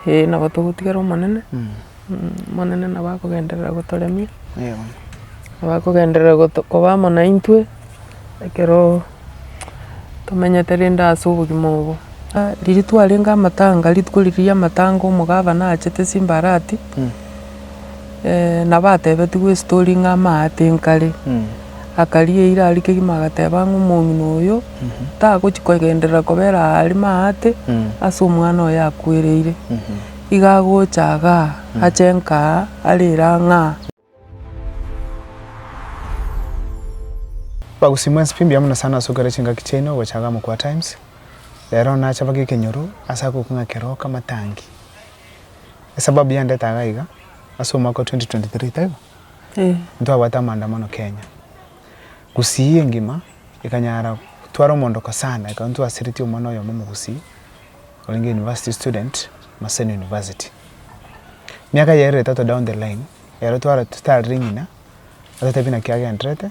Ee, nabo togotigera Omonene, Omonene nabo akogenderera gotoremia, nabo akogenderera goto koba amo naintwe, ekero tomenyete rende ase obogima obo. Riria twarenge amatanga, rituko riria ri'amatanga omogabana achete simbarati. eh, nabo atebetigwe estori ng'a amaate nkare. Akaria eira aria kegima agateba ng'a omong'ina oyo tagochi kogenderera kobera aa aria maate ase omwana oyo akwereire. Iga agocha igaa, ache nkaa, arere aa ng'aa. Bagusii mwensi pi mbuya mono sana ase ogokera chingaki chiaino ogocha igaa Mokwa Times. Rero nache baka ekenyoru ase agokwa ng'a keroka matangi. Esababu yandete iga iga, ase omwaka o 2023 taibo? Ntwabwate amaandamano Kenya. Gusii engima ekanyara gotwara omondoko sana ekaba ntwasiretie omwana oyomo omogusii orenge university student Maseno University. Miaka eye ere etato down the line, ero twara totarire ng'ina, atotebi naki agenderete.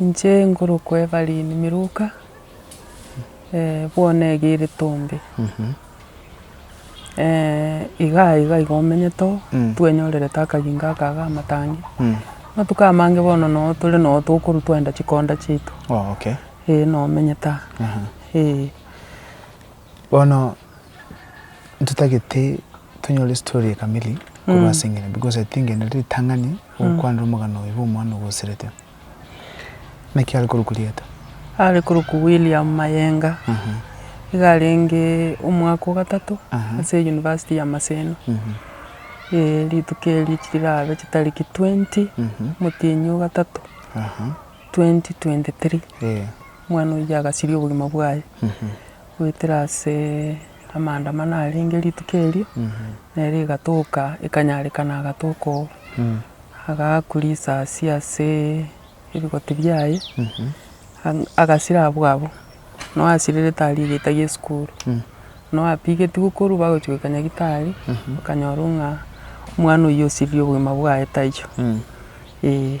Inche ngorokwa Evelyn Miruka, bono ege ere Tombe, iga iga iga omenyete oo, twenyorerete akagingo aka ga amatangi, amatuko amange bono noo tore noo tokorwa twaenda chikonda chiaito, eh noo omenyete aa, eh. Bono ntotagete tonyore estory kamili korwa ase eng'eria, because I think ere ritang'ani gokwanera omogano oyo bwa omwana ogoserete. Naki are korokwa rieta? Are korokwa William Mayenga, iga arenge omwaka o gatato ase eyunivasiti ya Maseno. Rituko erio chiraabe chitariki twenty omotienyi o gatato twenty twenty three, omwana oyio agasiria obogima bwaye goetera ase. Amaandamano arenge rituko erio, nere egatoka ekanyarekana agatoka oo, agaakwa risasi ase ebigoti biaye, ang- agasira abwo abwo, na oyasirire tarigeita gie esukuru, na oyapigetigwe korwa bagochia goika nyagetari, bakanyorwa ng'a omwana oyio osirire obogima bwaye taiyo, eeh.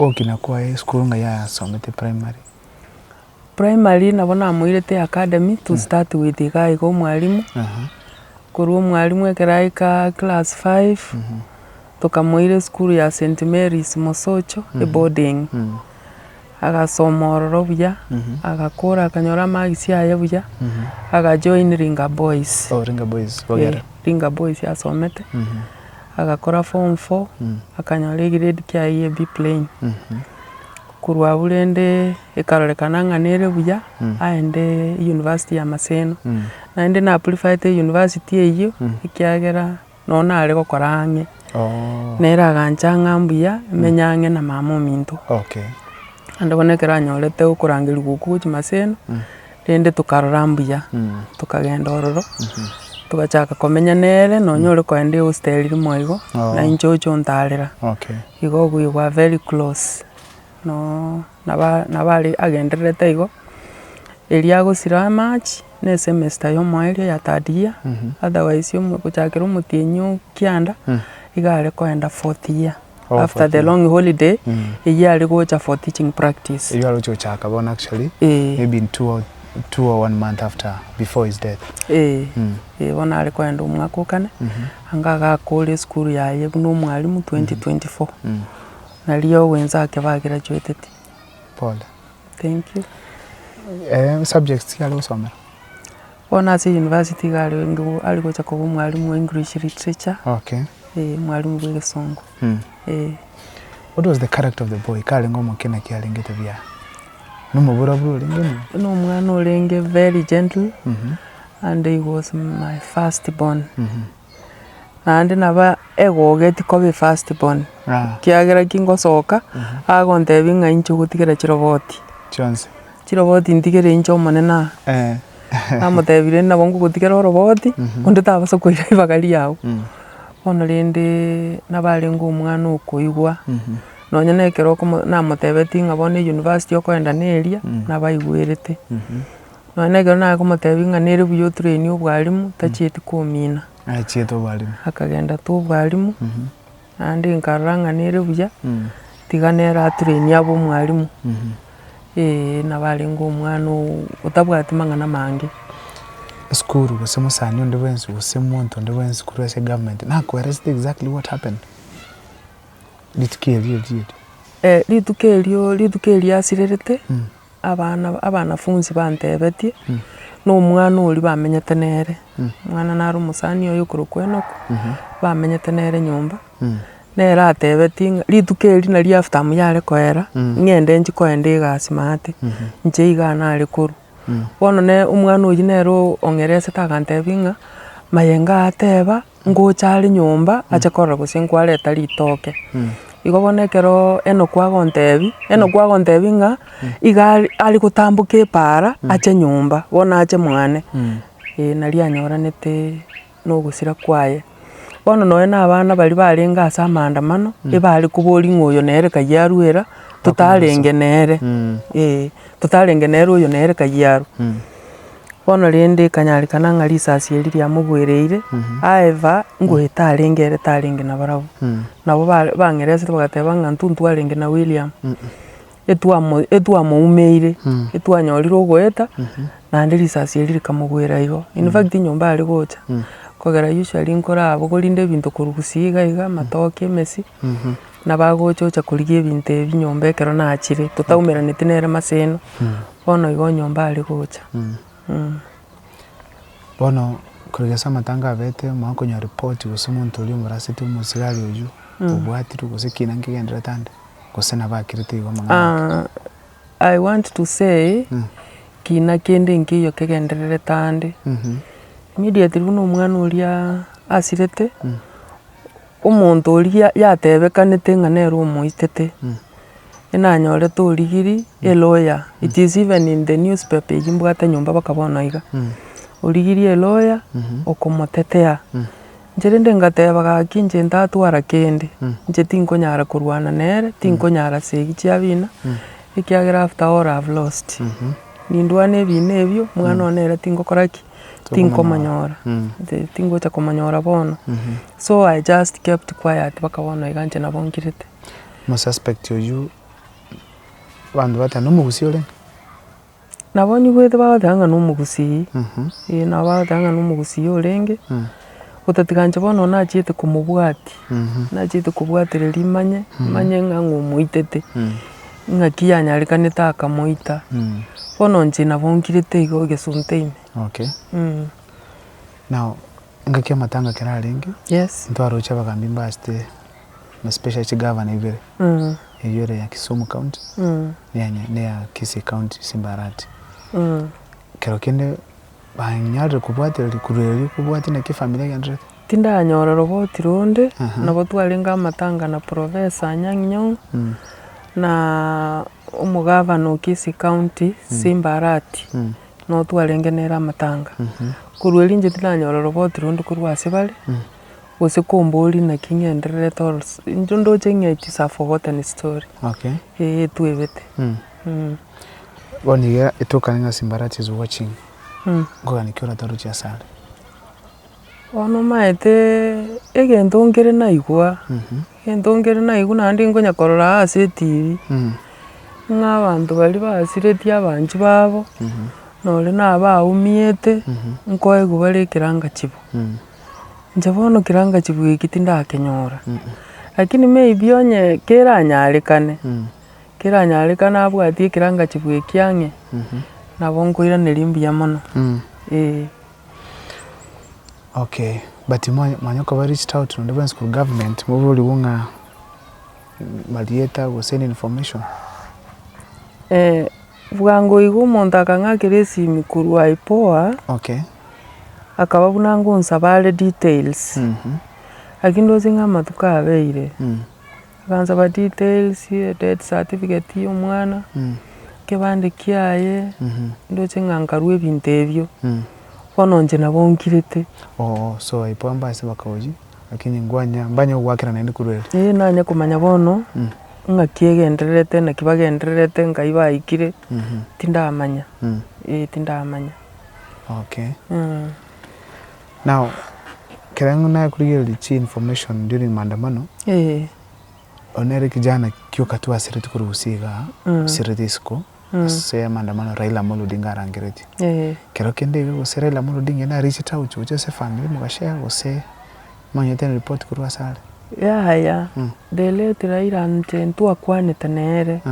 Ogokina kwaye esukuru ng'a yasomete primary. Primary nabo namoirete academy to start with iga iga omwalimu, korwa omwalimu ekero aika class five, tokamoira esukuru ya St. Mary's Mosocho, eboarding. Agasoma ororo buya, agakora akanyora amagisi aye buya, agajoin Ringa Boys. Oh, Ringa Boys, bogere. Eh, Ringa Boys asomete, agakora form four, akanyora egrade kiaye ye B plain. Korwa abwo rende ekarorekana ng'a nere buya aende University ya Maseno. Naende napurifayete University eyio ekiagera no nare gokora ang'e, nere agancha ng'a mbuya menye ang'e na mama ominto. Naende bono ekero anyorete okorangerigwa okwo gwa chimaseno, rende tokarora mbuya, tokagenda ororo, togachaka komenya nere, nonya ore kogenda ehosteri rimo igo, nainche oche ontarera, igo obuya bwa very close. no naba naba agendererete igo, erio agosira amache, na esemester ya omoyo eria ya third year, otherwise omo gochakera omotienyi oo kianda, iga are koenda fourth year, after the long holiday, eyio are gocha for teaching practice. Erio aroche gochaka bono actually, Eh. maybe in two or two or one month after before his death. Eh, eh bono are koenda omwaka o kane, anga agakora esukuru yaye buna omwalimu twenty twenty four. Nario ogwensa ake ba graduateti. Pole. Thank you. Eeh subjects ki are gosomera? Bono ase university iga are ngu are gocha koba omwalimu o English literature. Okay. Eeh mwalimu bw'egesongo. Mh. Eeh. What was the character of the boy? Karenge omoke naki arengete buya? Na omoburoburo orenge mwa? Buna omwana orenge very gentle. Mh. And he was my first born. Mh. naende nabo egogo etikoba efirst born, ekiagera ki ngosoka, agontebia ng'a inche ogotigera chiroboti, chiroboti ntigere inche omonene aa, namotebia rende nabo ngogotigera oroboti, onde tabasa koira ribaga riago, bono rende nabo arenge omwana okoigwa, nonye na ekero okomo namotebetie ng'a bono eyunivasiti okoenda neria, nabo aigwerete. Nonya na ekero nakomotebia ng'a nere buya otraini obwalimu, tachieti komina. Achiete obwalimu. Akagenda twa obwalimu, naende nkarora ng'a nere buya, tiga nere atrainie abe omwalimu. Eeh, nabo arenge omwana oo otabwati mang'ana amange. Esukuru gose omosani onde bwensi gose omonto onde bwensi korwa ase egovernment, nakoelesete exactly what happened? Rituko erio riaria. Rituko erio, rituko erio riasirerete, abana abanafunsi bantebetie, na omwana oria bamenyete nere, omwana naro omosani oye okorokwa Enock, bamenyete nere nyomba, nere atebetie ng'a rituko erio nari after amu yare koera, ng'ende nchi kogenda egasi maate, inche iga nare korwa. Bono nere omwana oyio nere o- ong'eresete agantebi ng'a, mayenga ateba. Ngocha are nyomba ache korora gose nkwareta ritoke. Igo bono ekero Enoku agontebia, Enoku agontebia ng'a iga are are gotamboka epaara ache nyomba, bono ache mwane, eh nario anyoranete na ogosira kwaye. Bono nonye na abana baria barenge ase amaandamano, ebare koboria ng'a oyo nere kayio arwera, totarenge nere, eh totarenge nere oyo nere kayio arwa. Bono rende ekanyarekana ng'a risasi eri riamogwereire, aeva, ngoeta tarenge ere tarenge na barabwo. Nabo bare bang'eresire bagateba ng'a intwe ntwarenge na William, etwamo etwamoumeire, etwanyorire ogoeta, naende risasi eri rikamogwera igo. In fact nyomba are gocha, kogera usually nkora abwo korinde ebinto korwa gusii iga iga, amatoke, emesii, nabagocha ocha korigia ebinto ebi nyomba ekero nachire, totaumeraneti nere maseno, Bono igo nyomba are gocha. Bono korwa ase amatango abete omanye konyora report gose omonto oria omoraseti omosigari oyio obwatirwe gose kina nkegenderete ande gose nabo akirete igo amang'ana ake. I want to say kina kende nkeiyo kegendererete ande immediately buna omwana oria asirete. Omonto oria yatebekanete ng'a nere omoitete, enanyorete origiri, a lawyer, it is even in the newspaper eyio mbwate nyomba mpaka bono iga, origiri a lawyer okomotetea, inche rende ngateba gaki inche ntatwara kende, inche tinkonyara korwana nere, tinkonyara segi chiabina, ekiagera after all I have lost, nindwane ebina ebio, omwana one nere tingokora ki. tinkomonyora, inche tingocha komonyora bono, so I just kept quiet mpaka bono iga inche nabo nkirete. Omosuspect oyio, abanto bateba nomogusii ore? Nabo nigo bagoteeba ng'a nomogusii, eh, nabo bagoteeba ng'a nomogusii orenge. Otatiganche bono nachiete komobwatia, nachiete kobwatereria rimanye, manye ng'a omoitete, ng'aki yanyarekanete akamoita. Bono inche nabo nkirete igo egesunte ime. Okay. Now, engaki y'amatanga ekero arenge, Yes. ntwaroche abagambi mbasete na especially chigavana ibere, eyio ere ya Kisumu County, na eya Kisii County Simbarati. Ekero kende. Banyare kobwatera rikurura erio kobwatia naki efamiri egendererete. Tindanyora rogoti ronde, nabo twarenge amatanga na Professor Anyang' Nyong'o, na omogavana o Kisii County, Simba Arati, nabo twarenge nere amatanga. Korwa erio inche tindanyora rogoti ronde korwa ase bare, gose komboria naki ng'endererete or inche ndoche ng'echi safogotten story, Okay. eh, etwebete. Bono iga etokane na chimbarara chie chigwa ching'e, nkogani ki oratoruche ase are? Bono omanyete egento nkere naigwa, egento nkere naigwa naende nkonya korora ase etv, ng'a abanto baria basiretie abanchwa babo, nore na abaumiete, nkoigwa bare ekeranga chibo. Inche bono ekeranga chibo eki tindakenyora, lakini maybe onye keranyarekane. keranyarekane abwatie ekerangachifu eki ang'e, nabo nkoiraneria mbuya mono, eeh. Okay, but mwa- mwanya koba reached out nonde bwensi korwa government mobaborigwe ng'a marieta gose any information? Eeh, bwango iga omonto akang'akera esimi korwa IPOA, Okay. akaba buna ngonsaba are details, lakini ndosie ng'a amatuko abeire. Akansaba details, death certificate ya omwana, ekebande kiaye, ndoche ng'a nkarue ebinto ebio, bono inche nabo nkirete. Oo so aipoo amba ase bakaoji lakini ngwanya mbanye gogoakera naende korwa ere. Ee nanye komanya bono ng'aki egendererete naki bagendererete nkai baikire tindamanya, ee tindamanya. Okay. Now ekere'ng'u nakorigereria chi information during maandamano, oyo nere kijana kioka tu asiretwe korwa gusii igaa, asiretwe isiko ase maandamano Raila Amolo Odinga arangeretie. Ekero kende iga gose Raila Amolo Odinga ere na reached out gochia ase efamiri mogashare gose monyete any report korwa ase are? Yaya, the late Raila inche ntwakwanete nere,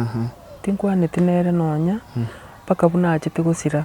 tinkwaneti nere nonya mpaka buna achete gosira.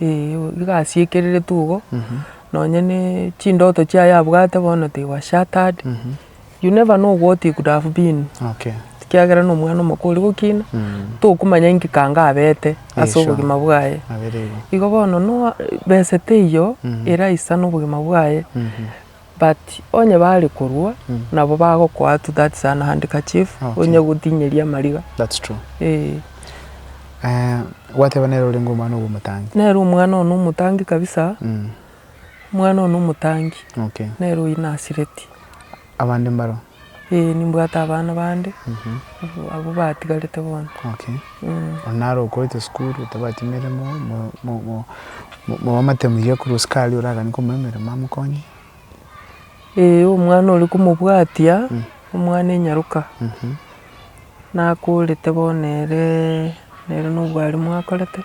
Ee iga asiekereretwe igo, nonya na chindoto chiaye abwate bono they were shattered, you never know what he could have been Okay. ekiagera na omwana omoka oria gokina, tokomanya inki kanga abete ase sure. obogima bwaye. Abere igo. Igo bono no besa teiyo eraisana obogima bwaye. But onye bare korua nabo bagokoa to that is an handkerchief Okay. onye gotinyeria amariga That's true. eh. Eh, gwateba nere orenge omwana obo omotangi. Nere omwana one omotangi kabisa, Mm. omwana one omotangi Okay. nere oyio nasireti. Abande mbaro. Ee, nimbwate abana bande, abwo batigarete bono. Okay. Onye naro okorete esukuru, otabati emeremo, mwamate muya korwa sukari oragani komoa emeremo amokonye? Ee, omwana oria komobwatia, omwana enyaroka, nakorete bono ere, nere na obwalimu akorete.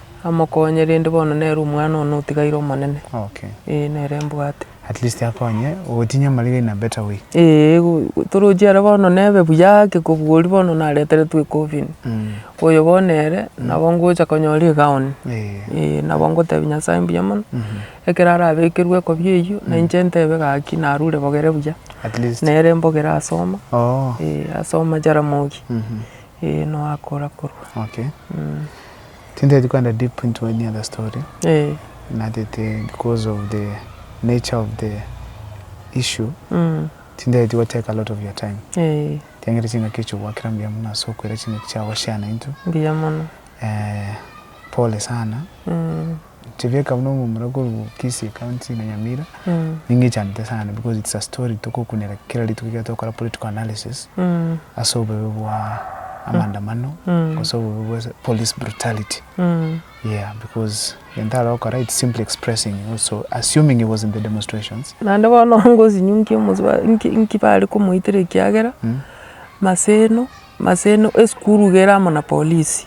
Amokonye, rende bono nere omwana one otigaire omonene. Okay. Ee, nere mbwate. At least akonye gotinya amariga in a better way. Ee, go- toroche ere bono nebe buya ake kobua oria bono nareteretwe ecoffin. Oyo bono ere, nabo ngocha konyora egaoni. Ee. Ee, nabo ngotebia Nyasae mbuya mono, ekero arabekerwe ekobia eyio, na inche ntebe gaki narure bogere buya. At least. Nere mbogere asoma, Oo. ee, asoma Jaramogi. Eeh no akora korwa. Okay tintageti kwenda deep into any other story eeh natete because of the nature of the issue mm tintageti go take a lot of your time eeh tiangete chingaki echi ogwakera mbuya mono ase okoira chingaki chiago chiana into mbuya mono eeh pole sana mm. Chebeka buna omomura korwa Kisii county na Nyamira ninga echanete sana because it's a story tokokunera kera rituko ekero togokora political analysis ase obobe bwa amandamano gose obobe bwa police brutality yeah because egento aragokora it's simply expressing also assuming he was in the demonstrations. Naende bono ngosinyokia omosi inki bare komoitera ekiagera maseno. Ase ene esukuru iga ere amo na polisi,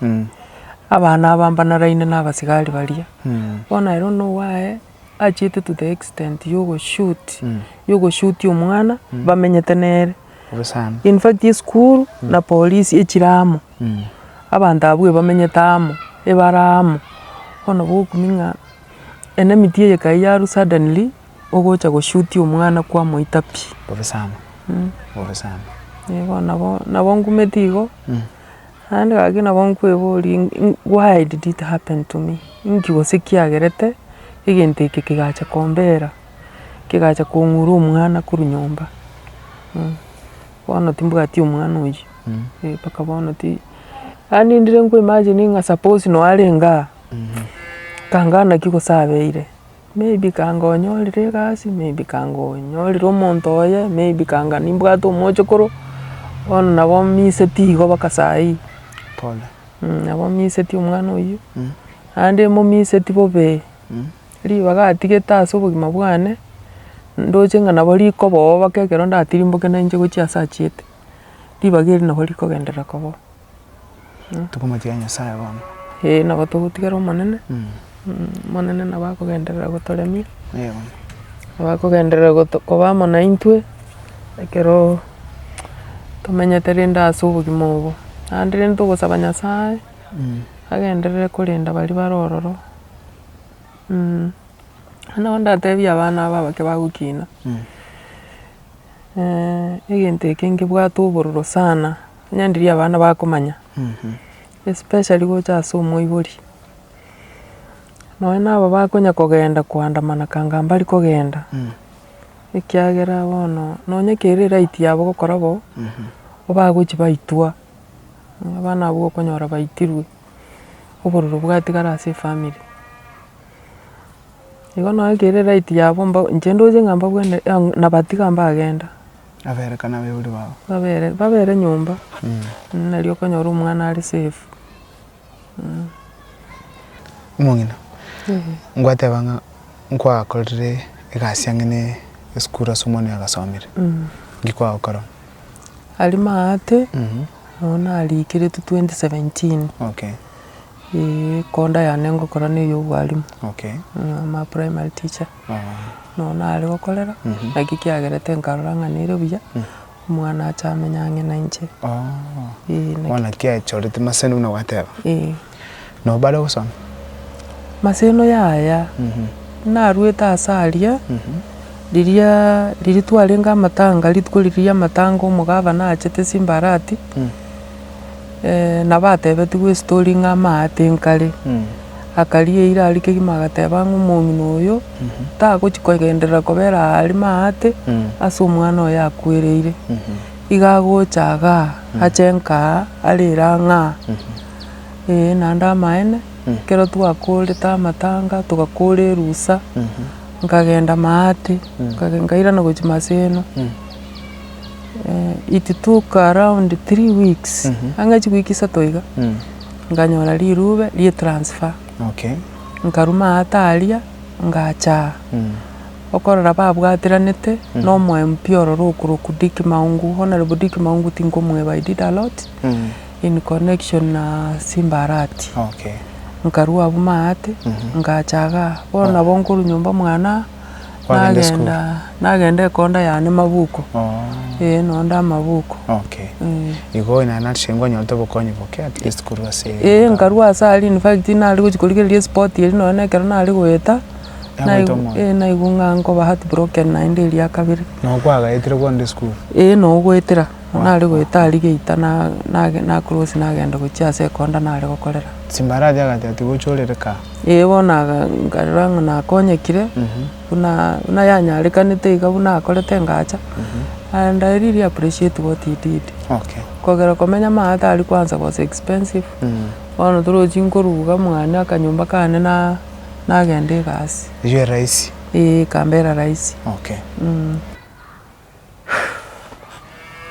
abana abambanaraine na abasigari baria, bono ere buna owaye achiete to the extent ya ogoshoot, ya ogoshutia omwana bamenyete nere. In fact esukuru na polisi echire amo, abanto abwo ebamenyete amo, ebare amo, bono bokumia ng'a enamiti eye ekaiya arwa suddenly, Ogocha goshutia omwana kwamoita pi. Bobe sana bobe sana. Eh bono nabo nabo ngumeti igo, naende gaki nabo nkweboria in- in why did it happen to me? Inki gose kiagerete egento eke kegacha kombera, kegacha kong'ura omwana korwa nyomba? Bono timbwati omwana oyio, eh mpaka bono ti, yaani ndire nkoimagine ng'a suppose noo arenge aa, tangana ki gose abeire, Maybe kanga onyorire egasi, maybe kanga onyorire omonto oye, maybe kanga nimbwate omochokoro, bono nabo minsetwe igo mpaka saa hii. Pole. Nabo minsetwe omwana oyio, naende mominsetwe bobe, ribaga atigete ase obogima bwane, ndoche ng'a nabo rikoba oo mpaka ekero ndatirimboke nainche gochia ase achiete, ribaga erio nabo rikogenderera koba oo. Tokomotiga Nyasaye bono. Eeh nabo togotigera Omonene, Omonene nabo akogenderera gotoremia, nabo akogenderera koba amo naintwe, ekero tomenyete rende ase obogima obo. Naende rende togosaba Nyasaye, agenderere korenda baria bare ororo, naende nabo ndatebie abana aba abake bagokina, egento eke nkebwate obororo sana. Onye ndiri abana bakomanya, especially gocha ase omoibori, nonye na aba bakonya kogenda koandamana kanga mbari kogenda, ekiagera bono nonye kere right yabo gokora bo, bo bagochi baitwa, onye abana abwo okonyora baitirwe, obororo bwatigara ase efamiri. Igo nonye kere right yabo, inche ndoche ng'a mbabwene, nabatiga mbagenda. Abere kana abaibori babo. Babere babere nyomba nario okonyora omwana are safe mmh. Omong'ina, ngwateba ng'a nkwakorire egasi ang'e ne esukuru ase omwana oyo agasomire, nki kwagokorora? Aria maate, nabo nariikeretwe twenty seventeen, Eeh ekonda yane ngokora ne eyobwalimu, Okay. I'm a primary teacher, nonya nare gokorera, naki kiagerete nkarora ng'a nere buya, omwana ache amenye ang'e na inche. Eeh naki- Bono naki achorete maseno buna gwateba. eeh. Nabo bare gosoma? Maseno yaya, narwete ase aria, riria riria twarenge amatanga, rituko riria ria amatanga omogabana achete simbarati. Na batebetigwe ase toria ng'a amaate nkare. Akaria eira aria kegima agateba ng'a omong'ina oyo tagochia kogenderera kobera aare maate ase omwana oye akwereire. Iga agocha iga ache nka arere ang'e aa. Ee naende amaene, ekero twakorete amatanga togakora erusa, nkagenda maate, nkairana gochia maseno. Itutuka around three weeks anga chiweek isato iga, nkanyora rirube rie transfer, nkaruma aate aria ngacha okorora babwatiranete na omo MP ororo okorokwa Dick Maungu, Honourable Dick Maungu tinkomweba, I did a lot in connection na Simba Arati. Nkarwa abwo maate ngacha igaa, bono nabo nkorwa nyomba mwanaa. Kwagenda esukuru? Nagenda, nagenda ekonda yane mabuku, Oh. eh, nonde amabuku. Okay. Eh. Igo naye nache ngwanyorete obokonyi boke at least korwa ase Eh, nkarwa ase aria in fact nare gochia korigereria esport eria nonye na ekero nare goeta, Yagoita naigu- omoyo. eh, naigwa ng'a nkoba heartbroken naende eria ya kabere. Noo kwagaetire korende esukuru? Eh, nogoetera. Nabo nare goeta aria geita na- nage- nacross nagenda gochia ase ekonda nare gokorera. Chimbarati agati ati gochia orereka. Ee bono aga nkarora ng'a nakonyekire, buna buna yanyarekanete iga buna akorete engacha, and I really appreciate what he did. Okay. Kogera komenya amo agati aria kwanza was expensive, bono torochi nkoruga mwane akanyomba kane na- nagenda egasi. Eywo eraisi. Ee, ekambera raisi. Okay.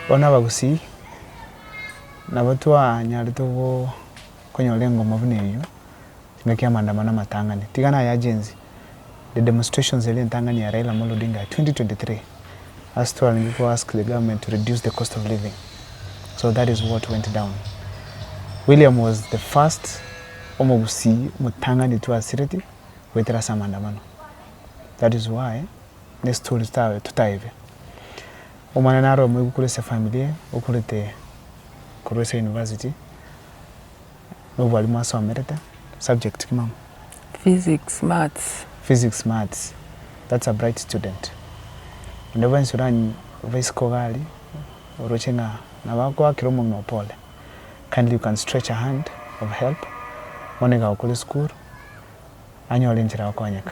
Bono abagusii nabo twanyarete konyora engoma buna eyio engaki y'amaandamano amatang'ani. Tiga naye agency the demonstrations eria entang'ani ya Raila Amolo Odinga ya 2023 as twarenge ko ask the government to reduce the cost of living so that is what went down. William was the first omogusii omotang'ani twasireti goetera ase amaandamano that is why nesi tore tawe totaebe. Omonene are omoigwa korwa ase efamiri eye, okorete korwa ase university, na obwalimu asomerete, subject ki mama? Physics, maths. Physics, maths, that's a bright student. Naende bwensi oranyie obisike iga aria, oroche ng'a nabo agoakera omonwe oo pole, kindly you can stretch a hand of help, bono iga agokore esukuru, anyore enchera ya gokonyeka.